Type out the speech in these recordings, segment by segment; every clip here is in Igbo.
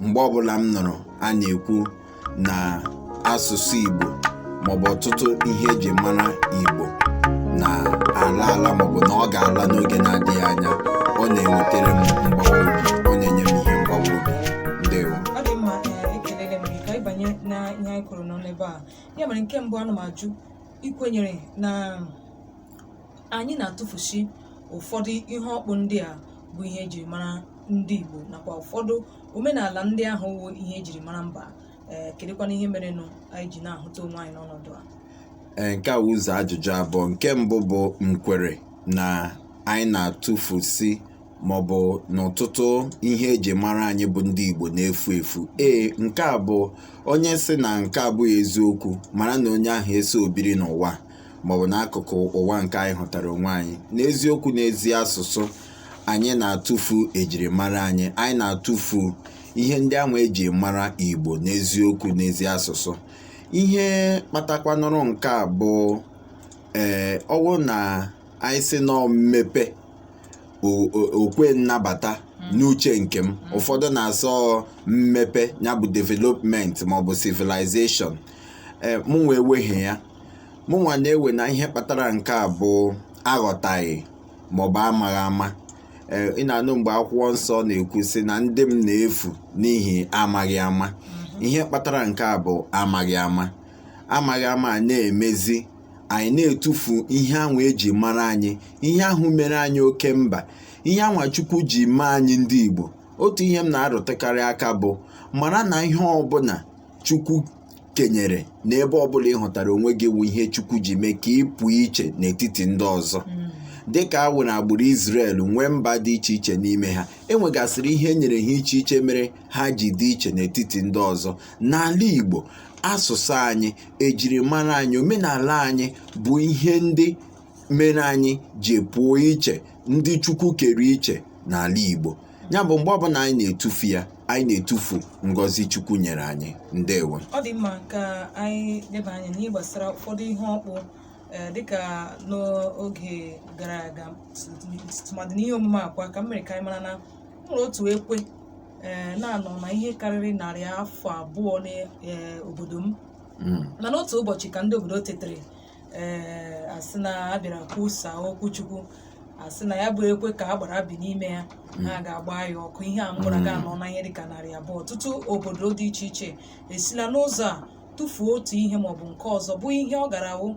mgbe ọbụla m nụrụ a na-ekwu na asụsụ Igbo maọbụ ọtụtụ ihe eji mara Igbo na-ala ala maọbụ na ọ ga-ala n'oge na-adịghị anya ọ na-enwetere m mgbawa obi ọ na-enye m ihe mgbawa obi ndewo ọ dị mma ee ekelere m gị ka anyị banye na ihe anyị kpụ n'ọnụ ebe a ya mere nke mbụ ana m ajụ i kwenyere na anyị na-atụfusi ụfọdụ ihe ọkpụ ndị a bụ ihe ejiri mara ndị Igbo nakwa ụfọdụ omenala ndị ahụ wụ ihe ejiri mara mba ee kedụkwanụ ihe merenụ anyị ji na-ahụta onwe anyị n'ọnọdụ a Ee, nke a wụ ụzọ ajụjụ abụọ nke mbụ bụ m kwere na anyị na-atụfusi maọbụ na ọtụtụ ihe eji mara anyị bụ ndị Igbo na-efu efu ee nke a bụ onye sị na nke a abụghị eziokwu mara na onye ahụ esoo biri n'ụwa maọbụ n'akụkụ ụwa nke anyị hụtara onwe anyị n'eziokwu n'ezi asụsụ anyị na-atụfu ejirimara anyị anyị na-atụfu ihe ndị ahụ eji mara igbo n'eziokwu n'ezi asụsụ ihe kpatakwanụrụ nke a bụ ee ọ wụ na anyị sị na ọ mmepe okwe nnabata n'uche nke m ụfọdụ na-asị ọ mmepe ya bụ development maọbụ civilization ee mụwa ewehị ya mụnwa na-ewe na ihe kpatara nke a bụ aghọtaghị maọbụ amaghị ama ee ị na-anụ mgbe akwụkwọ nsọ na-ekwu sị na ndị m na-efu n'ihi amaghị ama ihe kpatara nke a bụ amaghị ama amaghị ama a na-emezi anyị na-etufu ihe ahụ eji mara anyị ihe ahụ mere anyị oke mba ihe anwa Chukwu ji mee anyị ndị Igbo otu ihe m na-arụtụkarị aka bụ mara na ihe ọbụla Chukwu kenyere n'ebe ọbụla ị hụtara onwe gị wụ ihe chukwu ji mee ka ị pụọ iche n'etiti ndị ọzọ dịka awụ na agbụrụ Izrel nwee mba dị iche iche n'ime ha e nwegasịrị ihe e nyere ha iche iche mere ha ji dị iche n'etiti ndị ọzọ n'ala Igbo asụsụ anyị ejirimara anyị omenala anyị bụ ihe ndị mere anyị ji pụọ iche ndị chukwu kere iche n'ala igbo ya bụ mgbe ọbụla anyị na-etufu ya anyị na-etufu ngọzi chukwu nyere anyị ndewo ọ dị mma ka anyị leba anya n'ihe gbasara ụfọdụ ihe ọkpụ ee, dịka n'oge gara aga tụmadị n'ihe omume a kwa ka m mere ka anyị mara na e nwere otu ekwe ee, na-anọ na ihe karịrị narị afọ abụọ n'obodo m Mm, mana otu ụbọchị ka ndị obodo tetere ee a sị na a bịara kwusa okwu chukwu a sị na ya bụ ekwe ka agbara bi n'ime ya ha ga-agba ya ọkụ ihe a mụrụ ga anọ na ihe dịka narị abụọ ọtụtụ obodo dị iche iche esila n'ụzọ a tufuo otu ihe maọbụ nke ọzọ bụ ihe ọ gaara awụ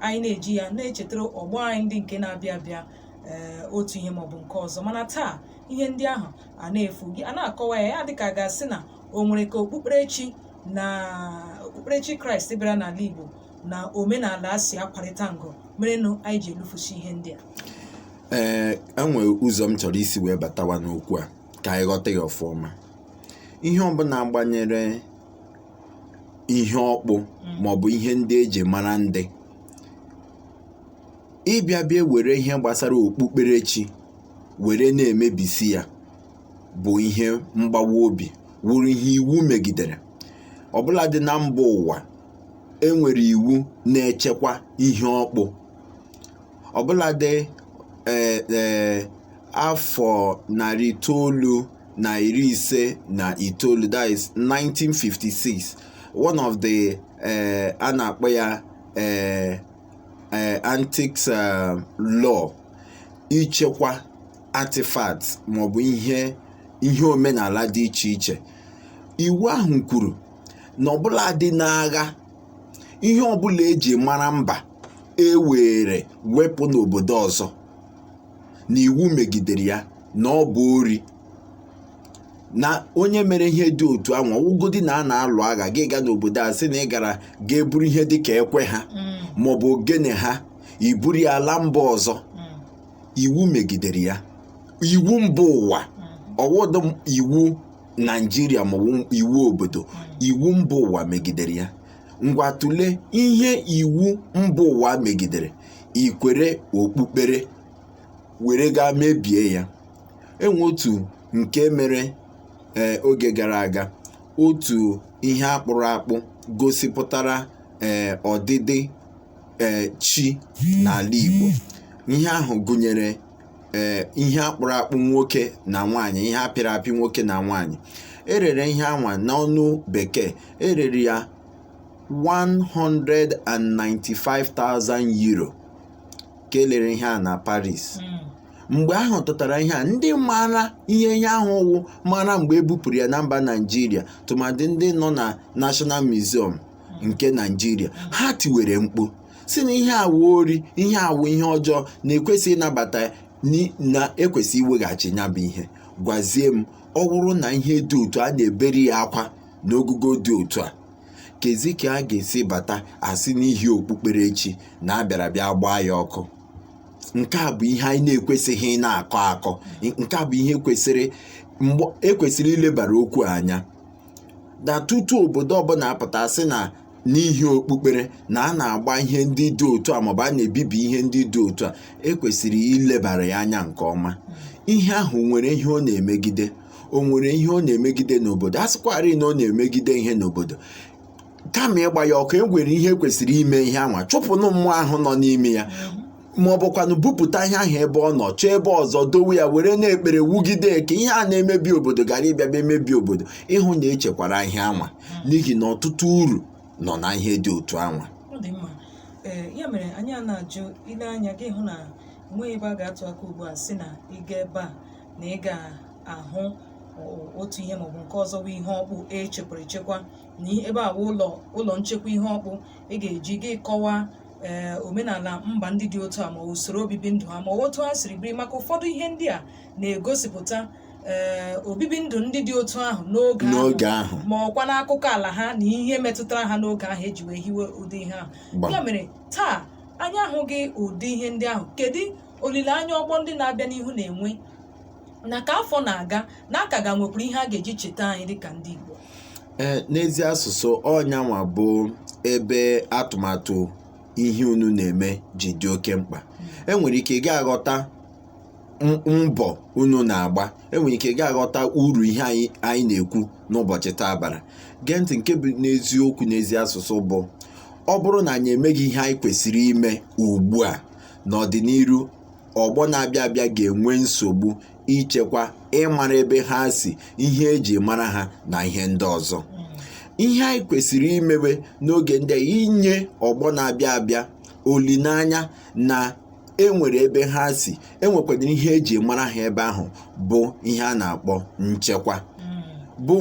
anyị na-eji ya na-echetara ọgbọ anyị ndị nke na-abịa abịa ee otu ihe maọbụ nke ọzọ mana taa ihe ndị ahụ a na-efu gị a na-akọwa ya ya dịka a ga-asị na o nwere ka okpukperechi na okpukperechi kraịst bịara n'ala igbo na omenala a si akwarịta ngụ merenụ anyị ji elufusi ihe ndị a ee e nwe ụzọ m chọrọ isi wee batawa n'okwu a ka anyị ghọta ya ọfụma ihe ọbụla gbanyere ihe ọkpụ maọbụ ihe ndị e ji mara ndị ịbịa bịa were ihe gbasara okpukperechi were na-emebisi ya bụ ihe mgbawa obi wụrụ ihe iwu megidere ọbụladị na mba ụwa e nwere iwu na-echekwa ihe ọkpụ ọbụladị ee ee afọ narị itoolu na iri ise na itoolu that is 1956 one of the ee a na-akpọ ya ee ee antiques eh, law ichekwa artifacts maọbụ ihe ihe omenala dị iche iche iwu ahụ kwuru na ọbụladị n'agha ihe ọbụla e ji mara mba e were wepụ n'obodo ọzọ na iwu megidere ya na ọ bụ ori na onye mere ihe dị otu ahụ ọ wụgodi na a na-alụ agha gị gaa n'obodo ahụ sị na ị gara ga-eburu ihe dị ka ekwe ha mm. maọbụ ogene ha i buru ya ala mba ọzọ mm. iwu megidere ya iwu mba ụwa mm. ọ wụghị iwu naijiria maọbụ iwu obodo iwu mba ụwa megidere ya ngwa tụlee ihe iwu mba ụwa megidere iwere okpukpere were gaa mebie ya e nwe otu nke mere ee eh, oge gara aga otu ihe a kpụrụ akpụ gosipụtara ee eh, ọdịdị ee eh, chi n'ala Igbo ihe ahụ gụnyere ee ihe a kpụrụ akpụ nwoke na nwaanyị ihe a pịrị apị nwoke na nwaanyị e rere ihe a nwa n'ọnụ bekee e rere ya 195,000 euro ka e lere ihe a na Paris hmm. mgbe a hụtara ihe a ndị maara ihe ihe ahụ wụ mara mgbe e bupụrụ ya na mba Naịjirịa tụmadị ndị nọ na National Museum nke Naịjirịa ha tiwere mkpu sị na ihe a wụ ori ihe a wụ ihe ọjọọ na-ekwesị ịnabata na ekwesị iweghachi ya bụ ihe gwazie m ọ bụrụ na ihe dị otu a na-ebere ya akwa n'ogogo dị otu a kezi ka a ga-esi bata a sị n'ihi okpukperechi na a bịara bịa gbaa ya ọkụ nke a bụ ihe anyị na-ekwesịghị na-akọ akọ nke a bụ ihe kwesịrị mgbe ekwesịrị ilebara okwu anya na tutu obodo ọbụla apụta sị na n'ihi okpukpere na a na-agba ihe ndị dị otu a maọbụ a na-ebibi ihe ndị dị otu a ekwesịrị ilebara ya anya nke ọma ihe ahụ nwere ihe ọ na-emegide o nwere ihe ọ na-emegide n'obodo a sịkwarị na ọ na-emegide ihe n'obodo kama ịgba ya ọkụ e nwere ihe ekwesịrị ime ihe anwa chụpụnụ mmụọ ahụ nọ n'ime ya ma ọ bụkwanụ bupụta ihe ahụ ebe ọ nọ chọọ ebe ọzọ dowe ya were na-ekpere wugide eke ihe a na-emebi obodo ghara ịbịa bịa emebi obodo ịhụ na echekwara ihe anwa n'ihi na ọtụtụ uru nọ na ihe dị otu anwa ọ dị mma ee ya mere anyị a na-ajụ i lee anya gị hụ na enweghị ebe a ga-atụ aka ugbu a sị na ị gaa ebe a na ị ga-ahụ o- otu ihe maọbụ nke ọzọ bụ ihe ọkpụ echekwara echekwa na i- ebe a bụ ụlọ ụlọ nchekwa ihe ọkpụ ị ga-eji gị kọwaa ee eh, omenala mba ndị dị otu a ma usoro obibi ndụ ha ma otu ha siri biri maka ụfọdụ ihe ndị a na-egosipụta ee eh, obibi ndụ ndị dị otu ahụ n'oge ahụ ma ọkwa n'akụkọ ala ha na ihe metụtara ha n'oge ahụ eji wee hiwe ụdị ihe ahụ ya mere taa anyị ahụghị ụdị ihe ndị ahụ kedu olileanya ọgbọ ndị na-abịa n'ihu na-enwe na ka afọ na-aga na a ka ga-enwekwuru ihe a ga-eji cheta anyị dịka ndị Igbo ee n'ezi asụsụ ọ nyanwa bụ ebe atụmatụ ihe unu na-eme ji dị oke mkpa enwere ike ị ga-aghọta m- mbọ unu na-agba enwere ike ị ga-aghọta uru ihe anyị anyị na-ekwu n'ụbọchị taa bara gee ntị nke bụ n'eziokwu n'ezi asụsụ bụ ọ bụrụ na anyị emeghị ihe anyị kwesịrị ime ugbu a n'ọdịnihu ọgbọ na-abịa abịa ga-enwe nsogbu ichekwa ịmara ebe ha si ihe eji mara ha na ihe ndị ọzọ ihe anyị kwesịrị imewe n'oge ndị a inye ọgbọ na-abịa abịa olileanya na enwere ebe ha si enwekwara ihe eji mara ha ebe ahụ bụ ihe a na-akpọ nchekwa bụ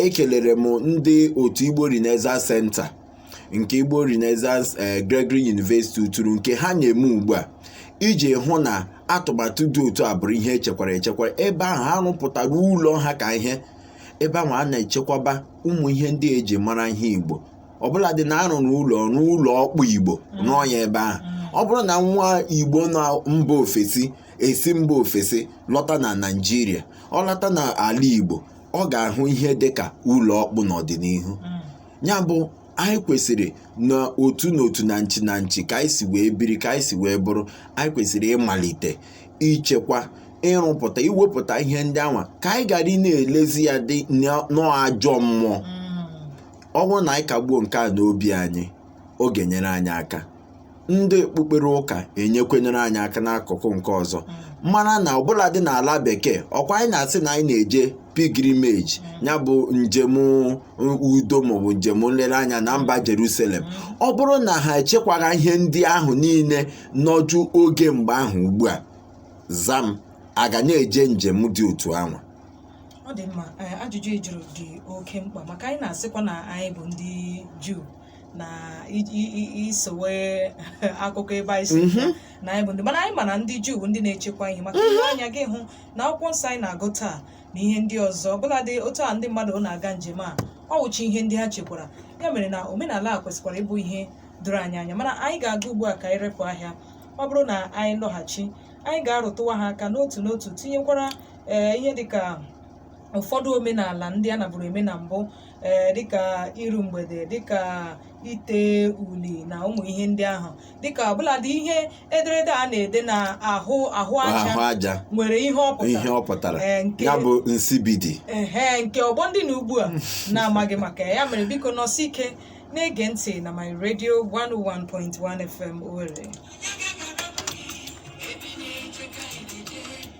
ekelere m ndị otu Igbo Renaissance Center nke Igbo Renaissance eh, Gregory University Uturu nke ha na-eme ugbu a iji hụ na atụmatụ dị otu a bụrụ ihe echekwara echekwa ebe ahụ ha rụpụtara ụlọ ha ka ihe ebe ahụ a na-echekwaba ụmụ ihe ndị eji mara ihe Igbo ọbụla dị na arụrụ ụlọ rụọ ụlọ ọkpụ Igbo rụọ ya ebe ahụ ọ bụrụ na nwa Igbo na mba ofesi esi mba ofesi lọta na Naịjirịa ọ lọta n'ala Igbo ọ ga-ahụ ihe dịka ụlọ ọkpụ n'ọdịnihu ya bụ anyị kwesịrị na otu na otu na nchi na nchi ka anyị si wee biri ka anyị si wee bụrụ anyị kwesịrị ịmalite ichekwa ịrụpụta iwepụta ihe ndị anwa ka anyị ghara ịna-elezi ya dị n'ajọ mmụọ mm. ọ bụrụ na anyị kagbuo nke a n'obi anyị ọ ga-enyere anyị aka ndị okpukpere ụka enyekwanụrụ anyị aka n'akụkụ nke ọzọ mara na ọbụladị n'ala bekee ọkwa anyị na-asị na anyị na-eje pilgrimage ya bụ njem udo maọbụ njem nlereanya na mba Jerusalem ọ bụrụ na ha echekwaghị ihe ndị ahụ niile nọju oge mgbe ahụ ugbu a za m a ga na-eje njem dị otu ahụ ọ dị mma ajụjụ ị jụrụ dị oke mkpa maka anyị na-asịkwa na anyị bụ ndị Juu na i sowe akụkọ ebe anyị si mhm. na anyị bụ ndị mana anyị ma na ndị juu ndị na-echekwa ihe maka mhm. anya gị hụ na akwụkwọ nsọ anyị na-agụ taa na ihe ndị ọzọ ọbụladị otu a ndị mmadụ na-aga njem a ọ wụcha ihe ndị ha chekwara ya mere na omenala a kwesịkwara ịbụ ihe doro anyị anya mana anyị ga-aga ugbu a ka anyị repụ ahịa ọ bụrụ na anyị lọghachi anyị ga-arụtụwa ha aka n'otu n'otu tinyekwara ee eh, ihe dịka ụfọdụ omenala ndị a naburu eme na mbụ ee eh, dịka iru mgbede dịka ite uli na ụmụ ihe ndị ahụ dịka ọbụladị ihe ederede a na-ede na ahụ ahụ aja nwere ihe ọ pụtara eh, ya bụ nsibidi ehe nke ọgbọ ndị nọ ugbu a na-amaghị maka ya mere biko nọsie ike na-ege ntị na my radio 101.1 FM Owerri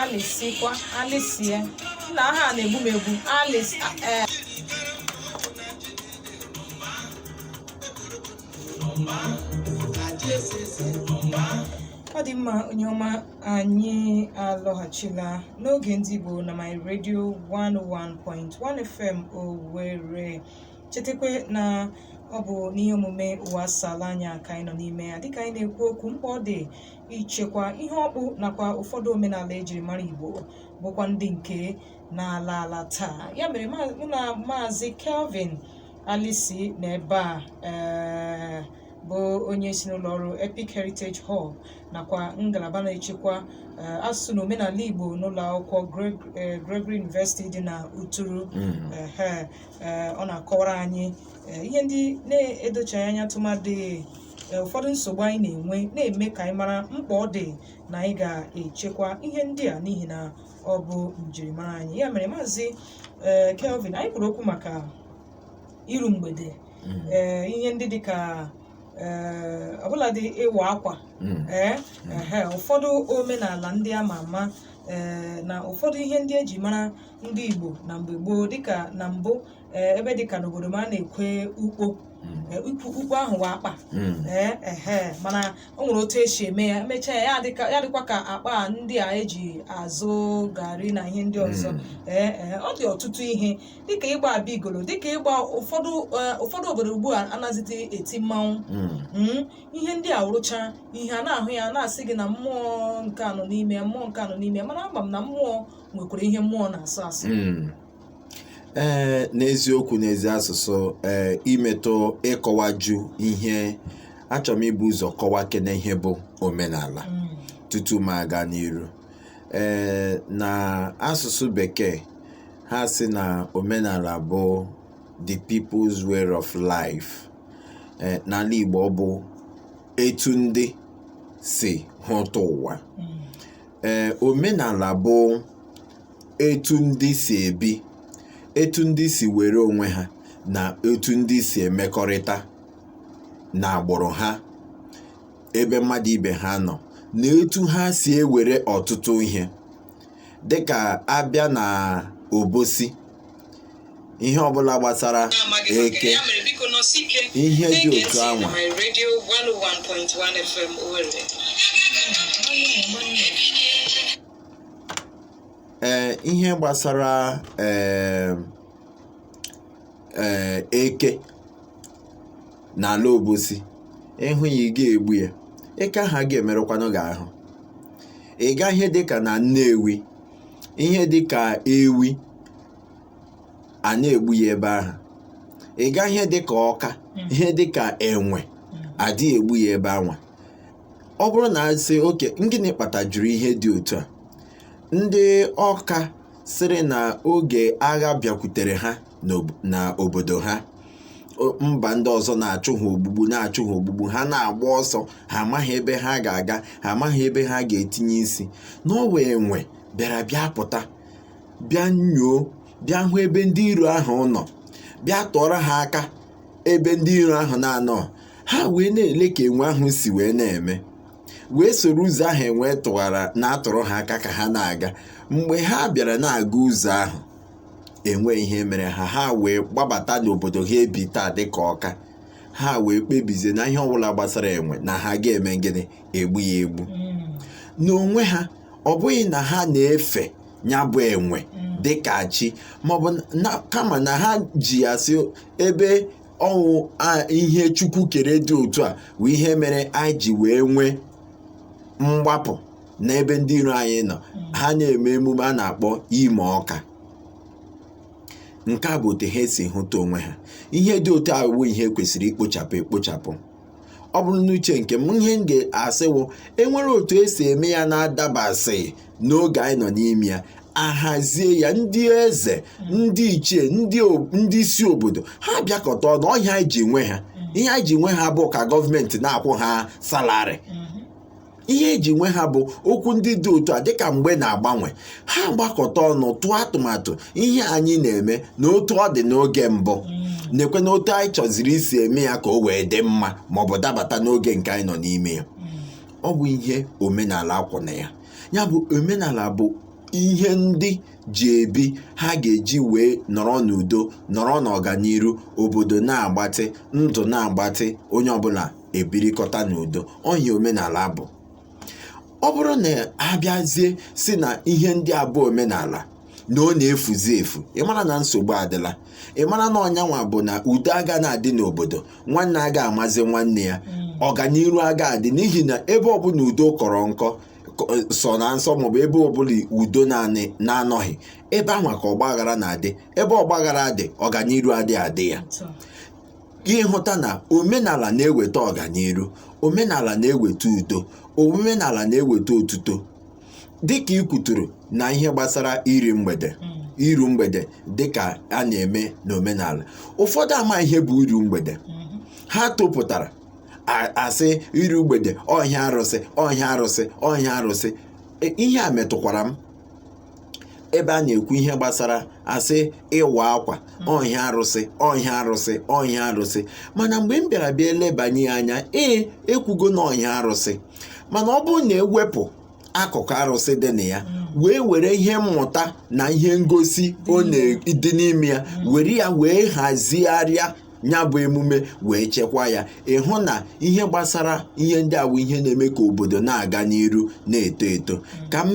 alịsikwa alịsie nna aha a na-egbu m egbu alịs ee ọ dị mma onye ọma anyị alọghachila n'oge ndị Igbo na my radio 101.1 FM Owerri chetakwa na ọ bụ n'ihe omume ụwa asaala anya ka anyị nọ n'ime ya dịka anyị na-ekwu okwu mkpa ọ dị ichekwa ihe ọkpụ nakwa ụfọdụ omenala ejiri mara igbo bụkwa ndị nke na-ala ala taa ya mere ma- mụ na maazị kelvin Alisi nọ ebe a ee, bụ onye si n'ụlọ ọrụ epic heritage hall nakwa ngalaba na-echekwa ee, asụsụ na omenala igbo n'ụlọ akwụkwọ Greg- ee, gregory university dị na uturu Ehe. eh, ọ na-akọwara anyị eh, ihe ndị na-edochaghị anya tụmadị eh, ụfọdụ nsogbu anyị na-enwe na-eme ka anyị mara mkpa ọ dị na anyị ga-echekwa ihe ndị a n'ihi na ọ bụ njirimara anyị ya mere maazị eh, Kelvin anyị kwuru okwu maka iru mgbede Mm. ee ihe ndị dịka ee, ọbụladị ịwa akwa Mm. ee ehe, ụfọdụ omenala ndị ama ama ee, na ụfọdụ ihe ndị eji mara ndị Igbo na mgbe gboo dịka na mbụ ee, ebe dịka n'obodo m a na-ekwe ukpo Mm. ee, ukpo ukpo ahụ wụ akpa Mm. ee ehe mana o nwere otu esi eme ya emechaa ya ya adịka ya dịkwa ka akpa a ndị a eji azụ garị na ihe ndị ọzọ Mm. ee ee, ọ dị ọtụtụ ihe dịka ịgba abigolo dịka ịgba ụfọdụ eh, ụfọdụ obodo ugbu a anaghịzi eti mmanwụ Mm. Mm, ihe ndị a wụcha ihe a na-ahụ ya na-asị gị na mmụọ nke a nọ n'ime ya, mmụọ nke a nọ n'ime ya, mana ama m na mmụọ nwekwara ihe mmụọ na-asụ asụ Mm. ee n'eziokwu n'ezi asụsụ ee imetụ ịkọwaju ihe achọrọ m ibu ụzọ kọwakene ihe bụ omenala Mm. tutu m aga n'iru ee na asụsụ bekee ha sị na omenala bụ the people's way of life ee n'ala igbo ọ bụ etu ndị si hụta ụwa ee omenala bụ etu ndị si ebi etu ndị si were onwe ha na etu ndị si emekọrịta na agbụrụ ha ebe mmadụ ibe ha nọ na etu ha si ewere ọtụtụ ihe dịka a bịa na obosi ihe ọbụla gbasara eke ihe dị otu anwa ee eh, ihe gbasara ee eh, eh, eke n'ala obosi ị hụ ya ị gaghị egbu ya eke ahụ agaghị emerụkwanụ gị ahụ ị gaa ihe dịka na nnewi ihe dịka ewi anaghị egbu ya ebe ahụ ị gaa ihe dịka ọka ihe dịka enwe adịghị egbu ya ebe anwa ọ bụrụ na a sị okay gịnị kpatajuru ihe dị otu a ndị ọka sịrị na oge agha bịakwutere ha n'obodo ha mba ndị ọzọ na-achụ ha ogbugbu na-achụ ha ogbugbu ha na-agba ọsọ ha amaghị ebe ha ga-aga ha amaghị ebe ha ga-etinye isi na ọ wụ enwe bịara bịa pụta bịa nyoo bịa hụ ebe ndị iro ahụ nọ bịa tụọrọ ha aka ebe ndị iro ahụ na-anọghị ha wee na-ele ka enwe ahụ si wee na-eme wee soro ụzọ ahụ enwe tụwara na-atụrụ ha aka ka ha na-aga mgbe ha bịara na-aga ụzọ ahụ enweghị ihe mere ha ha wee gbabata n'obodo ha ebi taa dịka ọka ha wee kpebizie na ihe ọbụla gbasara enwe na ha agaghị eme gịnị egbu ya egbu n'onwe ha ọ bụghị na ha na-efe ya bụ enwe dịka chi maọbụ na kama na ha ji ya sị ebe ọ wụ ihe chukwu kere dị otu a bụ ihe mere anyị ji wee nwee mgbapụ n'ebe ndị iro anyị nọ ha na-eme emume a na-akpọ imo ọka nke a bụ otu ha si hụta onwe ha ihe dị otu a bụ ihe kwesịrị ikpochapụ ekpochapụ ọ bụrụ n'uche nke m ihe m ga-asị wụ enwere otu esi eme ya na-adabasịghị n'oge anyị nọ n'ime ya ahazie ya ndị eze ndị ichie ndị o- ndị isi obodo ha bịakọta ọnụ ọ ihe anyị ji nwe ha ihe anyị ji nwe ha abụghị ka gọọmenti na-akwụ ha salarị ihe eji nwe ha bụ okwu ndị dị otu a dịka mgbe na-agbanwe ha gbakọta ọnụ tụọ atụmatụ ihe anyị na-eme na otu ọ dị n'oge mbụ nekwe na otu anyị chọziri isi eme ya ka o wee dị mma ma ọ bụ dabata n'oge nke anyị nọ n'ime ya ọ bụ ihe omenala kwụ na ya ya bụ omenala bụ ihe ndị ji ebi ha ga-eji wee nọrọ n'udo nọrọ n'ọganiru obodo na-agbatị ndụ na-agbatị onye ọbụla ebirikọta n'udo ọ ihe omenala bụ ọ bụrụ na abịazie sị na ihe ndị a bụ omenala na ọ na-efuzi efu ị mara na nsogbu adịla ị mara na ọ nya nwa bụ na udo aga na-adị n'obodo nwanne aga amazi nwanne ya ọganiru aga adị n'ihi na ebe ọbụla udo kọrọ nkọ kọ- sọ na nsọ maọbụ ebe ọbụla udo na-anọghị ebe anwa ka ọgbaghara na-adị ebe ọgbaghara dị ọganiru adị adị ya Otu a. gị hụta na omenala na-eweta ọganiru omenala na-eweta udo omenala na-eweta otuto dịka ị kwuturu na ihe gbasara iru mgbede iru mgbede dịka a na-eme n'omenala ụfọdụ ama ihe bụ iru mgbede ha topụtara a- asị iru mgbede ọ ihe arụsị ọ ihe arụsị ọ ihe arụsị E, ihe a metụkwara m ebe a na-ekwu ihe gbasara asị ịwa akwa ọ ihe arụsị ọ ihe arụsị ọ ihe arụsị mana mgbe m bịara bịa elebanye ya anya ee ekwugo na ọ ihe arụsị mana ọ bụrụ na ewepụ akụkụ arụsị dị na ya wee were ihe mmụta na ihe ngosi ọ na-dị n'ime ya were ya wee hazigharịa ya bụ emume wee chekwa ya ị hụ na ihe gbasara ihe ndị a bụ ihe na-eme ka obodo na-aga n'iru na-eto eto ka m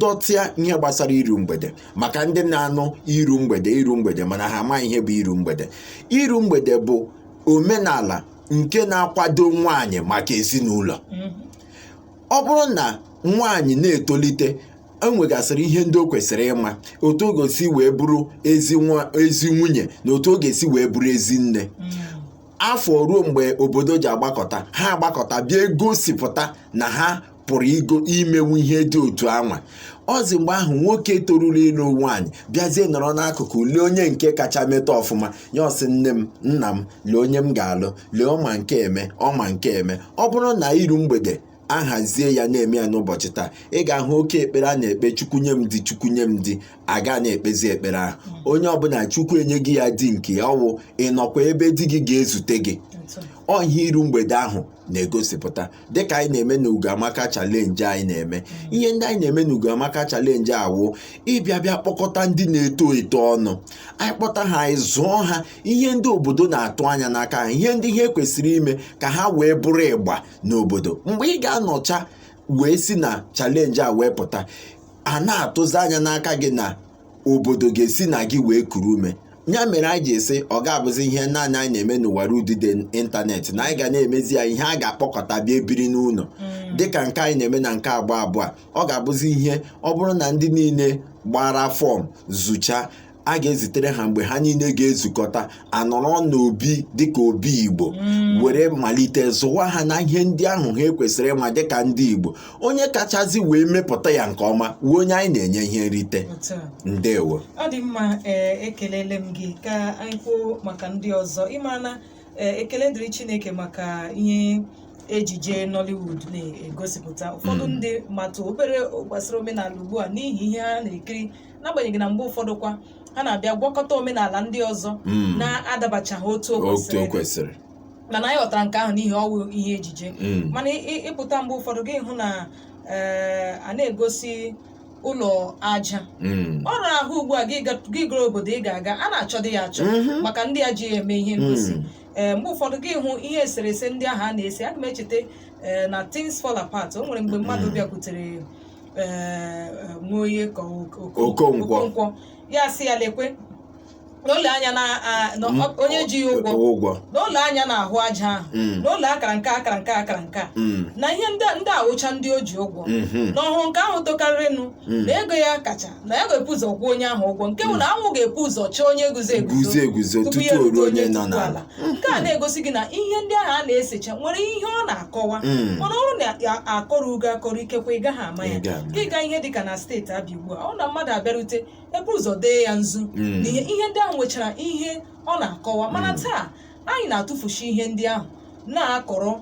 dọtịa ihe gbasara iru mgbede maka ndị na-anụ iru mgbede iru mgbede mana ha amaghị ihe bụ iru mgbede iru mgbede bụ omenala nke na-akwado nwaanyị maka ezinụlọ ọ bụrụ na nwaanyị na-etolite enwegasịrị ihe ndị o kwesịrị ịma otu ọ ga-esi wee bụrụ ezi nwa ezi nwunye na otu ọ ga-esi wee bụrụ ezi nne afọ ruo mgbe obodo ji agbakọta ha agbakọta bịa egosipụta na ha pụrụ igo imenwu ihe dị otu anwa ọ zi mgbe ahụ nwoke toruru ịlụ nwaanyị bịazie nọrọ n'akụkụ lee onye nke kacha meta ọfụma ya ọ sị nne m nna m lee onye m ga-alụ lee ọma nke eme ọma nke eme ọ bụrụ na iru mgbede a hazie ya na-eme ya n'ụbọchị taa ị ga-ahụ oke ekpere a na-ekpe chukwu nye m di chukwu nye m di aga na-ekpezi ekpere ahụ onye ọbụla chukwu enyego ya di nke ya ọ wụ ịnọkwa ebe di gị ga-ezute gị ọ ihe iru mgbede ahụ na-egosipụta dịka anyị na-eme na ugoamaka chalenji anyị na-eme ihe ndị anyị na-eme na ugoamaka chalenji a wụ ịbịa bịa kpọkọta ndị na-eto eto ọnụ anyị kpọta ha anyị zụọ ha ihe ndị obodo na-atụ anya n'aka ha ihe ndị ihe kwesịrị ime ka ha wee bụrụ ịgba n'obodo mgbe ị ga-anọcha wee si na chalenji a wee pụta a na-atụzi anya n'aka gị na obodo ga-esi na gị wee kuru ume ya mere anyị ji sị ọ ga-abụzi ihe naanị anyị na-eme n'ọwara udide ịntanetị na anyị ga na-emezi ya ihe a ga-akpọkọta bịa e biri n'ụlọ mm. dịka nke anyị na-eme na nke agba abụọ a ọ ga-abụzi ihe ọ bụrụ na ndị niile gbara fọm zucha a ga-ezitere ha mgbe ha niile ga-ezukọta a nọrọ n'obi dịka obi igbo mm. were malite zụwa ha na ihe ndị ahụ ha kwesịrị ịma dịka ndị igbo onye kachazi wee mepụta ya nke ọma wee onye anyị na-enye ihe nrite ndewo ọ dị mma eh, ekelele m gị ka anyị kwuo maka ndị ọzọ ị mara na eh, ekele dịrị chineke maka ihe ejije Nollywood na-egosipụta ụfọdụ mm. ndị matụ obere gbasara omenala ugbu a n'ihi ihe ha na-ekiri n'agbanyeghị na mgbe ụfọdụ kwa ha na-abịa gwakọta omenala ndị ọzọ Mm. na-adabachaghị otu o otu o kwesịrị kwesịrị mana anyị ghọtara nke ahụ n'ihi ọ wụ ihe ejije Mm. mana ị- ị- ịpụta mgbe ụfọdụ gị hụ na ee, a na-egosi ụlọ aja Mm. ụlọ ahụ ugbu a gị ga- gị gara obodo ị ga-aga a na-achọdị ya achọ Mhm. maka ndị a ji ya eme ihe ngosi Mm. ee mgbe ụfọdụ gị hụ ihe eserese ndị ahụ a na-ese aga m echeta ee, na things fall apart o nwere mgbe mmadụ bịakwutere ee, ee, Nwoye ka ọ- Oko- Okonkwo. Okonkwo. ya sị ya lekwe n'ụlọ anya na a- na ọ- onye ji ya ụgwọ ụgwọ n'ụlọ anya n'ahụ aja ahụ Mm. n'ụlọ akara nke a akara nke a akara nke a Mm, na ihe ndị ndị a wụcha ndị o ji ụgwọ mhm, na ọ hụrụ nke ahụ tokarịrịnụ Mm. na ego ya kacha na ya ga-epu ụzọ kwụọ onye ahụ ụgwọ nke bụ na anwụ ga-epu ụzọ chaa onye guzo guzo eguzo tutu o ruo onye nọ n'ala nke a na-egosi gị na ihe ndị ahụ a na-esecha nwere ihe ọ na-akọwa Mm. mana ọ na akọrọ gị akọrọ ikekwe ị gaghị ama ya Ị gaghị ama ya. ị gaa ihe dịka na steeti abịa ugbu a ọ na mmadụ abịarute ebu ụzọ dee ya nzu Mm. na ihe ihe ndị ahụ nwechara ihe ọ na-akọwa mana taa anyị na-atụfusi ihe ndị ahụ na-akọrọ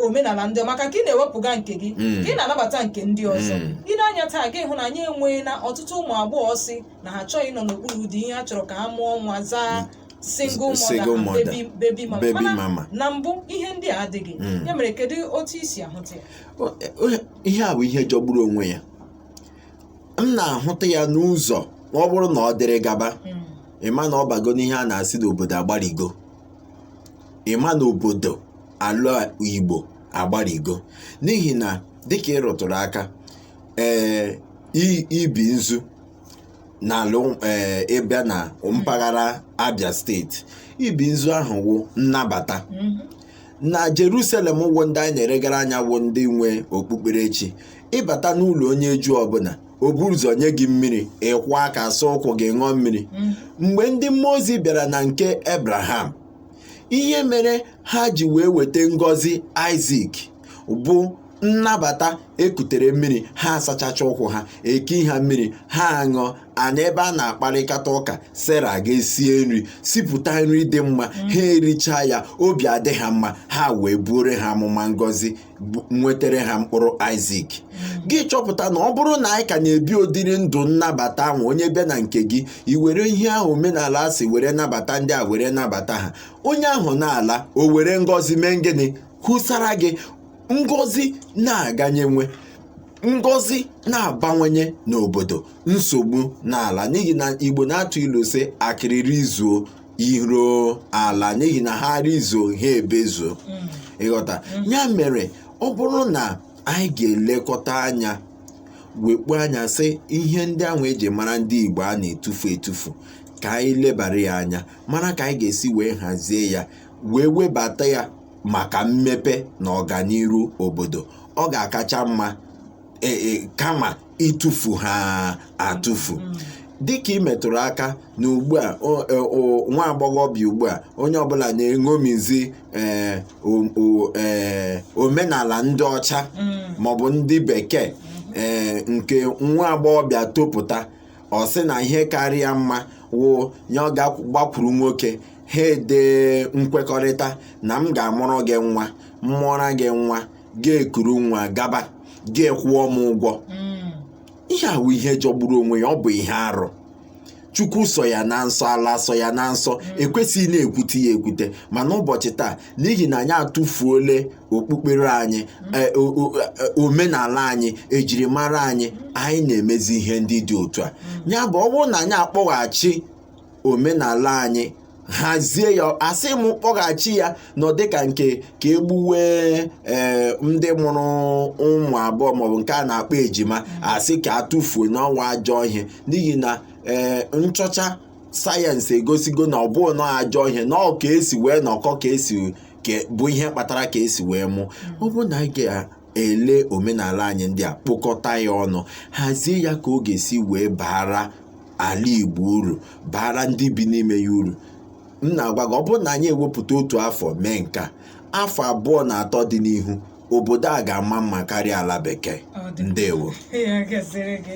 omenala ndị ọzọ. maka ka ị na-ewepụga nke gị Mm. ka ị na-anabata nke ndị ọzọ Mm. i nee anya taa gị hụ na anyị enweela ọtụtụ ụmụ agbọghọ sị na ha achọghị ịnọ n'okpuru di ihe ha chọrọ ka ha mụọ nwa zaa single Single mother, mother, and baby, baby mama. baby Mana mama. na mbụ ihe ndị a adịghị Mm. ya mere kedu otu i si ahụta ya O- o- ihe a bụ ihe jọgburu onwe ya m na-ahụta ya n'ụzọ ma ọ bụrụ na ọ dịrị gaba Mm. ị ma na ọ bago n'ihe a na-asị na obodo agbarigo ị ma na obodo ala igbo agbarigo n'ihi na dịka ị rụtụrụ aka ee i- ibi nzu n'ala ee ị bịa na mpaghara abia steeti ibi nzu ahụ wụ nnabata na jerusalem wụ ndị anyị na-eregara anya wụ ndị nwe okpukperechi ị bata n'ụlọ onye juu ọbụla o buru ụzọ nye gị mmiri ị kwọọ aka saa ụkwụ gị ṅụọ mmiri mgbe ndị mmụọ ozi bịara na nke abraham ihe mere ha ji wee weta ngọzi isaac bụ nnabata e kutere mmiri ha asachacha ụkwụ ha ekee ha mmiri ha aṅụọ a nọ ebe a na-akparịkata ụka sera ga-esie nri sipụta nri dị mma ha ericha ya obi adị ha mma ha wee buoro ha amụma ngọzi bu- nwetere ha mkpụrụ isaac gị chọpụta na ọ bụrụ na anyị ka na-ebi ụdịrị ndụ nnabata ahụ onye bịa na nke gị i were ihe ahụ omenala sị were nabata ndị a were nabata ha onye ahụ na-ala o were ngọzi mee gịnị wụsara gị ngọzi na-aganyenwe ngọzi na-abawanye n'obodo nsogbu na-ala n'ihi na igbo na-atụ ilu sị akịrị rizuo iro ala n'ihi na ha rizuo ha ebezuo ị ghọta ya mere ọ bụrụ na anyị ga-elekọta anya wekpu anya sị ihe ndị ahụ e ji mara ndị igbo a na-etufu etufu ka anyị lebara ya anya mara ka anyị ga-esi wee hazie ya wee webata ya maka mmepe na ọganiru obodo ọ ga-akacha mma e- e- kama ịtụfu ha atụfu dịka ị metụrụ aka na ugbu a o- e- o- nwa agbọghọbịa ugbu a onye ọbụla na-eṅomizi ee, o- o- ee, omenala ndị ọcha maọbụ ndị bekee ee, nke nwa agbọghọbịa topụta ọ sị na ihe kara ya mma wụ ya ọ gaa gbakwuru nwoke ha edee nkwekọrịta na m ga-amụrụ gị nwa m mụọra gị nwa gị ekuru nwa gaba gị akwụọ m ụgwọ Mm. ihe a wụ ihe jọgburu onwe ya ọ bụ ihe arụ chukwu sọ ya na nsọ ala sọ ya na nsọ e kwesịghị na-ekwute ya ekwute mana ụbọchị taa n'ihi na anyị atụfuole okpukpere anyị e, o- o- e, omenala anyị ejirimara anyị anyị na-emezi ihe ndị dị otu a ya bụ ọ bụrụ na anyị akpọghachi omenala anyị hazie ya asị m kpọghachi ya n'ụdị ka nke ka egbuwe ee ndị mụrụ ụmụ abụọ maọbụ nke a na-akpọ ejima asị ka atụfuo na ọwụ ajọ ihe n'ihi na ee nchọcha sayensị egosigo na ọ bụghị na ajọ ihe na ọ ka esi wee nọkọ ka esi ke- bụ ihe kpatara ka esi wee mụ ọ bụ na anyị ga-ele omenala anyị ndị a kpokọta ya ọnụ hazie ya ka ọ ga-esi wee baara ala igbo uru baara ndị bi n'ime ya uru m na-agwa gị ọ bụrụ na anyị ewepụta otu afọ mee nke a, afọ abụọ na atọ dị n'ihu obodo a ga-ama mma karịa ala bekee Ọ dị mma. ndewo ya gaziere gị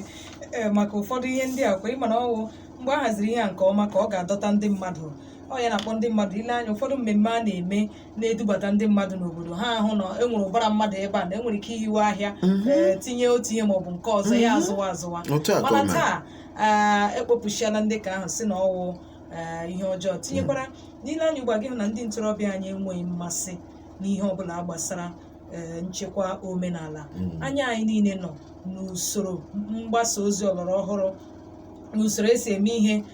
Ee, maka ụfọdụ ihe ndị a kwa ị ma na ọwụ mgbe a haziri ihe a nke ọma ka ọ ga-adọta ndị mmadụ ọ ya na-akpọ ndị mmadụ ile anya ụfọdụ mmemme a na-eme na-edubata ndị mmadụ n'obodo ha ahụ na e nwere ụbara mmadụ ebe a na enwere ike ihiwe ahịa ee, tinye otu ihe maọbụ nke ọzọ ya azụwa azụwa Otu a ka ọ mana mere. taa ee, ekpopụsịala ndị ka ahụ sị na ọwụ ee, ihe ọjọọ tinyekwara na i lee anya ugbu a gị hụ na ndị ntorobịa anyị enweghị mmasị n'ihe ọbụla gbasara ee, nchekwa omenala anya anyị niile nọ n'usoro mgbasa ozi ọlọrọ ọhụrụ n'usoro esi eme ihe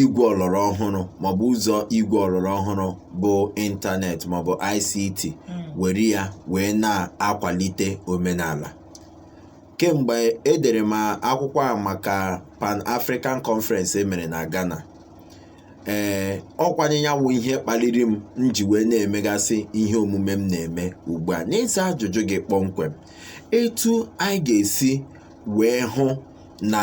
igwe ọlọrọ ọhụrụ maọbụ ụzọ igwe ọlọrọ ọhụrụ bụ ịntanetị maọbụ ICT were ya wee na-akwalite omenala kemgbe edere m akwụkwọ a maka Pan African Conference e mere na Ghana ee ọ kwa nya wụ ihe kpaliri m m ji wee na-emegasị ihe omume m na-eme ugbu a n'ịza ajụjụ gị kpọmkwem etu anyị ga-esi wee hụ na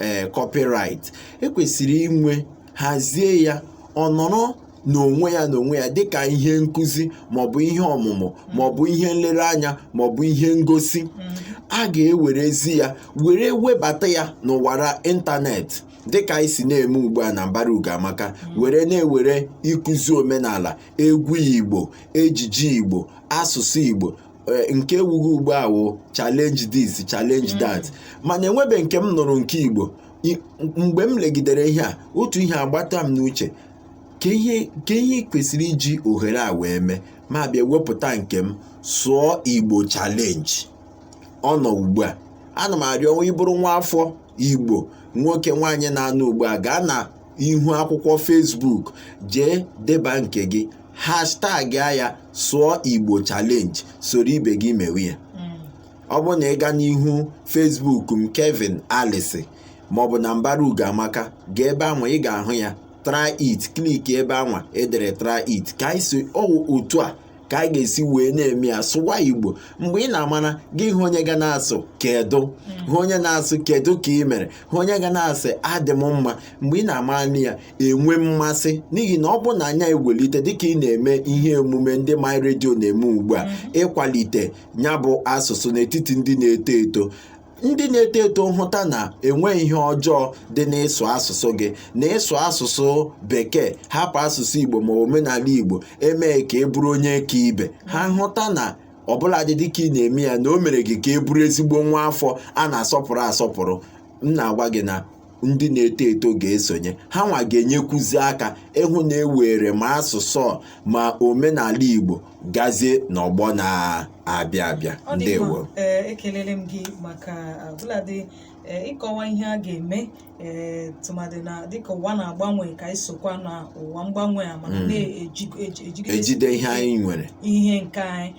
ee copyright ekwesịrị inwe hazie ya ọ nọrọ n'onwe ya n'onwe ya dịka ihe nkụzi maọbụ ihe ọmụmụ maọbụ ihe nlereanya maọbụ ihe ngosi a ga-ewerezi ya were webata ya n'ọwara ịntanetị dịka anyị si na-eme ugbu a na mbara ugoamaka were na-ewere ịkụzi omenala egwu igbo ejiji igbo asụsụ igbo eh, nke ewughe ugbu a wụ challenge this challenge mm. that mana enwebe nke m nụrụ nke igbo mgbe m legidere ihe a otu ihe agbata m n'uche ka ihe kwesịrị iji ohere a wee mee m abịa wepụta nke m sụọ igbo challenge ọ nọ ugbu a ana m arịọ na ị bụrụ nwa afọ igbo nwoke nwaanyị na-anụ ugbu a gaa na ihu akwụkwọ Facebook jee deba nke gị hashtag ya sụọ Igbo challenge soro ibe gị mewe ya ọ bụrụ na ị gaa n'ihu Facebook m Kevin Alisi maọbụ na mbara ugo amaka gaa ebe anwa ị ga-ahụ ya try it kliki ebe anwa edere try it ka anyị sị ọwụ otu a ka a ga-esi wee na-eme ya sụwa igbo mgbe ị na-amara gị hụ onye ga na-asụ kedu hụ onye na-asụ kedu ka ị mere hụ onye ga na-asị adị m mma mgbe ị na-amara na ya enwee mmasị n'ihi na ọ bụrụ na anyị ewelite dịka ị na-eme ihe emume ndị my redio na-eme ugbu a ịkwalite ya bụ asụsụ n'etiti ndị na-eto eto ndị na-eto eto ahụta na enweghị ihe ọjọọ dị n'ịsụ asụsụ gị na ịsụ asụsụ bekee hapụ asụsụ igbo ma omenala igbo emee ka ị bụrụ onye ka ibe ha ahụta na ọbụladị dịka ị na-eme ya na o mere gị ka ị bụrụ ezigbo nwa afọ a na-asọpụrụ asọpụrụ m na-agwa gị na ndị na-eto eto ga-esonye hanwa ga-enyekwuzi aka ịhụ na e weere ma asụsụ ma omenala Igbo gazie n'ọgbọ na-abịa abịa ndewo ekelele m gị maka ọbụladị ịkọwa ihe a ga-eme tụmadị na dịka ụwa na-agbanwe ka anyị sokwa na ụwa mgbanwe a mana na-ejide ihe anyị nwere ihe nke anyị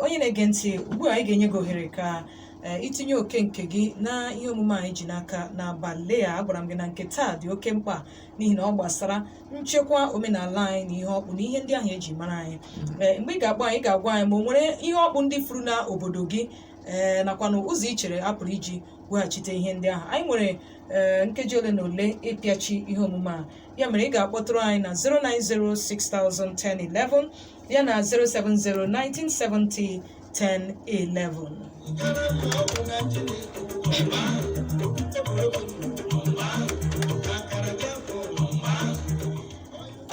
onye na-ege ntị ugbu a anyị ga-enye gị ohere ka ee i tinye oke nke gị na ihe omume anyị ji n'aka n'abalị a agwara m gị na nke taa dị oke mkpa n'ihi na ọ gbasara nchekwa omenala anyị na ihe ọkpụ na ihe ndị ahụ eji mara anyị ee mgbe ị ga-agba anyị ị ga-agwa anyị ma o nwere ihe ọkpụ ndị furu na obodo gị ee nakwa na ụzọ i chere a pụrụ iji weghachite ihe ndị ahụ anyị nwere ee nkeji ole na ole ịpịachi ihe omume a ya mere ị ga-akpọtụrụ anyị na 090601011 ya na 0701970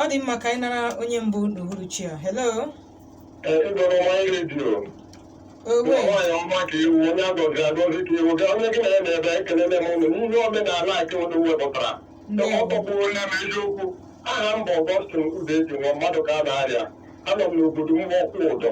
ọ dị mma ka anyị nara onye mbụ n'uhuruchi a hello owe nwaanyị ọma ka i wu onye agọziri agọzi ka i wu gaa onye gị na ya na-ebe ekelele m ụnụ n'ihe omenala a ụnụ wepụtara ọ tọgbuola m eziokwu aha m bụ Augustine udeji nwa mmadụ ka a na-arịa anọ m n'obodo mgbọkwụ ụdọ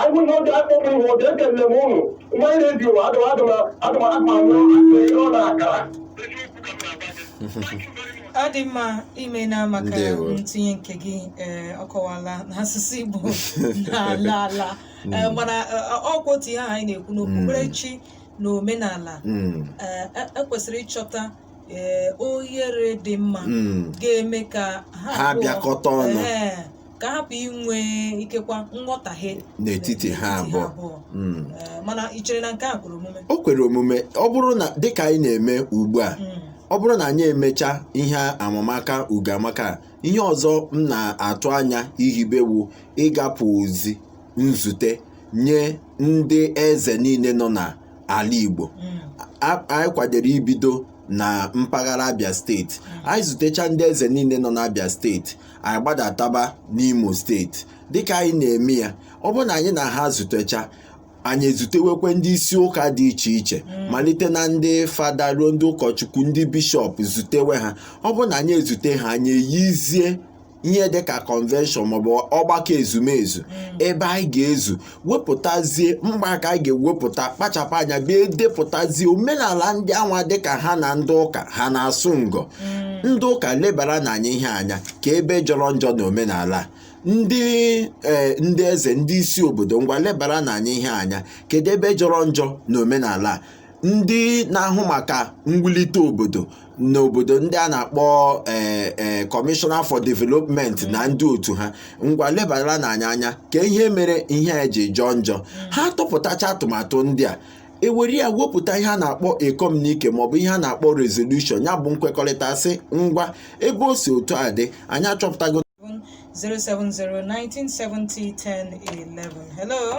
anyị na oge akpọ m ihe oge ekelele m ụnụ nwa anyị na-ebi ụwa adịm adịm adịm akpa ọ na akara ọ dị mma imena maka Ndewo. ntinye nke gị ee ọ kọwala na asụsụ igbo na-ala ala Ee, mana ee, ọ kwa otu ihe ahụ anyị na-ekwu na okpukperechi na omenala Mm, ee, e- ekwesịrị ịchọta ee, ohere dị mma mm. ga-eme ka Ha abụọ- bịakọta ọnụ. Ee, ka a hapụ inwe ikekwa nghọtahie n'etiti ha abụọ Mm. Eh, mana ị chere na nke a kwere omume o kwere omume ọ bụrụ na dịka anyị na-eme ugbu a Mm. ọ bụrụ na anyị emecha ihe amamaka ugamaka a, ihe ọzọ m na-atụ anya ihibe wụ ịgapụ ozi nzute nye ndị eze niile nọ n'ala Igbo Mm. A- anyị kwadoro ibido na mpaghara Abia steeti anyị zutecha ndị eze niile nọ n'Abia steeti anyị gbadataba n'imo steeti dịka anyị na-eme ya ọ bụrụ na anyị na ha zutecha anyị ezutewekwe ndị isi ụka dị iche iche malite na ndị fada ruo ndị ụkọchukwu ndị bishọp zutewe ha ọ bụrụ na anyị ezute ha anyị eyizie ihe dịka convention maọbụ ọgbakọ ezumezu ebe anyị ga-ezu wepụtazie mgbe a ka a ga-ewepụta kpachapụ anya bịa edepụtazie omenala ndị anwa dịka ha na ndị ụka ha na-asụ ngọ ndị ụka lebaranụ anyị ihe a anya kee ebe jọrọ njọ na omenala a. ndị ee ndị eze ndị isi obodo ngwa lebaranụ anyị ihe a anya kedu ebe jọrọ njọ na omenala a? ndị na-ahụ maka mwulite obodo n'obodo ndị a na-akpọ ee ee Commissioner for Development na ndị otu ha ngwa lebaranụ anyị anya kee ihe mere ihe a ji jọọ njọ ha tụpụtacha atụmatụ ndị a e were ya wepụta ihe a na-akpọ communique maọbụ ihe a na-akpọ resolution ya bụ nkwekọrịta sị ngwa ebe o si otu a dị anyị achọpụtago 070-1970-1011. Hello?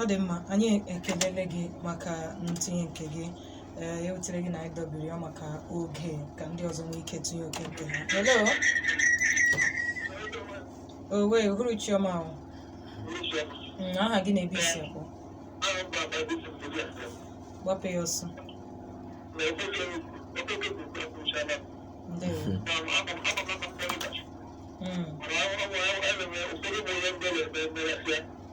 ọ dị mma anyị ekelele gị maka ntinye nke gị ee ya ewutela gị na anyị dọbiri ya maka oge ka ndị ọzọ nwee ike tinye oke nke ha hello uhuruchi ọma oo Mm, aha gị na ebe i si ekwu gbapụ ya ọsọ ndewo Mm,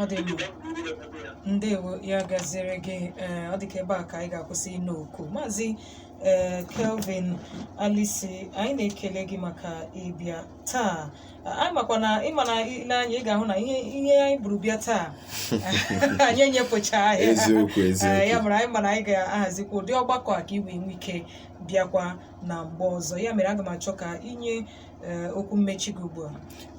ọ dị mma ndewo ya gaziere gị ee ọ dịka ebe a ka anyị ga-akwụsị ịna oku maazị ee kelvin alisi anyị na-ekele gị maka ịbịa taa anyị makwa na ị ma na i lee anya ị ga-ahụ na ihe ihe anyị buru bịa taa anyị enyepụchaghị ya eziokwu Ee, ya eziokwu mere anyị mana anyị ga-ahazikwa ụdị ọgbakọ a ka i wee nwee ike bịakwa na mgbe ọzọ ya mere aga m achọ ka i nye ee, okwu mmechi gị ugbu a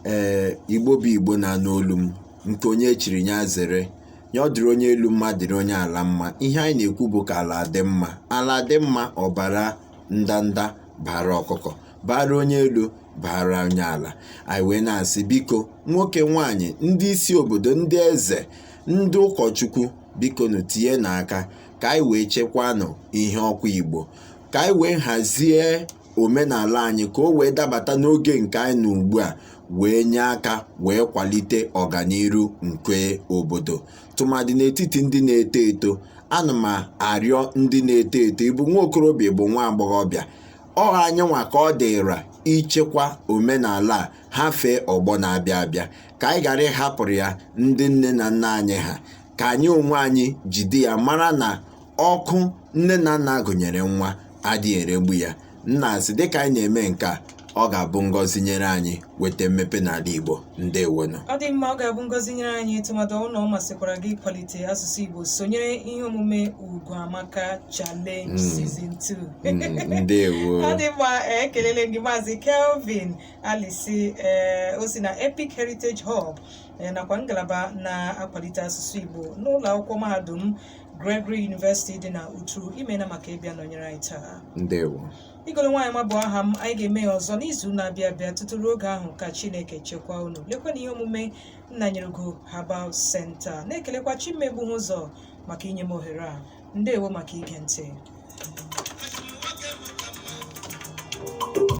ee igbo bụ igbo na-anụ olu m nke onye chiri ya zere ya ọ dịrị onye elu mma dịrị onye ala mma ihe anyị na-ekwu bụ ka ala dị mma ala dị mma ọ baara ndanda baara ọkụkọ baara onye elu baara onye ala anyị wee na-asị biko nwoke nwanyị ndị isi obodo ndị eze ndị ụkọchukwu bikonụ tinyenụ aka ka anyị wee chekwanụ ihe ọkwa igbo ka anyị wee hazie omenala anyị ka o wee dabata n'oge nke anyị nọ ugbu a wee nye aka wee kwalite ọganiru nke obodo tụmadị n'etiti ndị na-eto eto ana m arịọ ndị na-eto eto ị bụ nwa okorobịa ị bụ nwa agbọghọbịa ọ anyị nwa ka ọ dịra ichekwa omenala a hafee ọgbọ na-abịa abịa ka anyị ghara ịhapụrụ ya ndị nne na nna anyị ha ka anyị onwe anyị jide ya mara na ọkụ nne na nna gụnyere nwa adịghị eregbu ya na-asị dịka anyị na-eme nke a ọ ga-abụ ngọzi nyere anyị weta mmepe n'ala Igbo ndewonụ ọ dị mma ọ ga-abụ ngọzi nyere anyị tụmadụ na ọ masịkwara gị ịkwalite asụsụ Igbo sonyere ihe omume Ugo Amaka Challenge Season 2 Mm, ndewo ọ dị mma eh, ekelele gị maazị Kelvin Alisi eh, o si na Epic Heritage Hub eh, nakwa ngalaba na-akwalite asụsụ Igbo n'ụlọ akwụkwọ mahadum Gregory University dị na Uturu imena maka ịbịa nọnyere anyị taa ndewo Igolo Nwaanyịma bụ aha m anyị ga-eme ya ọzọ n'izu na-abịa abịa tutu ruo oge ahụ ka Chineke chekwaa unu lekwa na ihe omume Nnanyereugo Herbal Center na-ekelekwa Chimegbu ha ụzọ maka inye m ohere a ndewo maka ige ntị